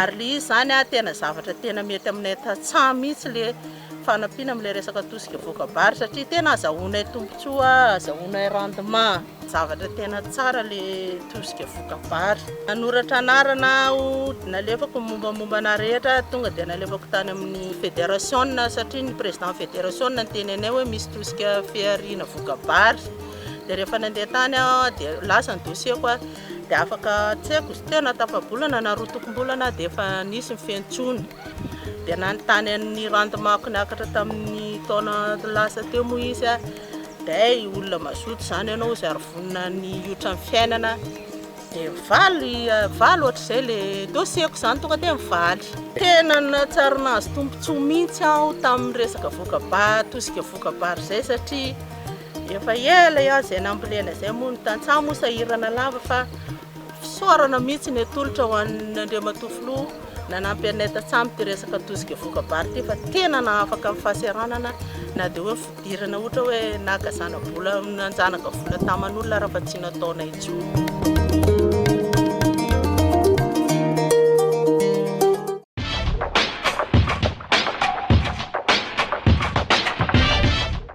Ary le izy izany a, tena zavatra tena mety aminay tantsaha mihitsy le fanampiana amin'ilay resaka tosika voakabarika satria tena azahoanay tombontsoa, azahoanay rendement. Zavatra tena tsara le tosika voka vary. Nanoratra anarana aho nalefako ny mombamomba anah rehetra tonga dia nalefako tany amin'ny federation satria ny président federation niteny anay hoe misy tosika fihariana voka vary dia rehefa nandeha tany aho dia lasa ny dossier ko dia afaka tsy haiko tena tafabolana na roa tokom-bolana aho dia efa nisy ny fiantsoana. dia nanontany an'i Randimaky niakatra tamin'ny taona lasa teo moa izy a, day olona mazoto izany ianao izay ary vonona ny hiotra ny fiainana, dia mivaly mivaly ohatr'izay ilay dossier-ko izany tonga dia mivaly. Tena nahatsiaro nahazo tombontsoa mihitsy aho tamin'ny resaka voka-ba tosika voka-bary izay satria efa ela aho izay nambolena izay moa ny tantsaha moa sahirana lava fa Fisaorana mihitsy ny atolotra ho an' Andriamatoa Filoha nanampy anay tantsaha amin'ity resaka tosika voka-bary ity fa tena nahafaka ny fahaseranana na dia hoe ny fidirana ohatra hoe naka zana-bola nanjanaka vola taman' olona raha fa tsy nataonay intsony.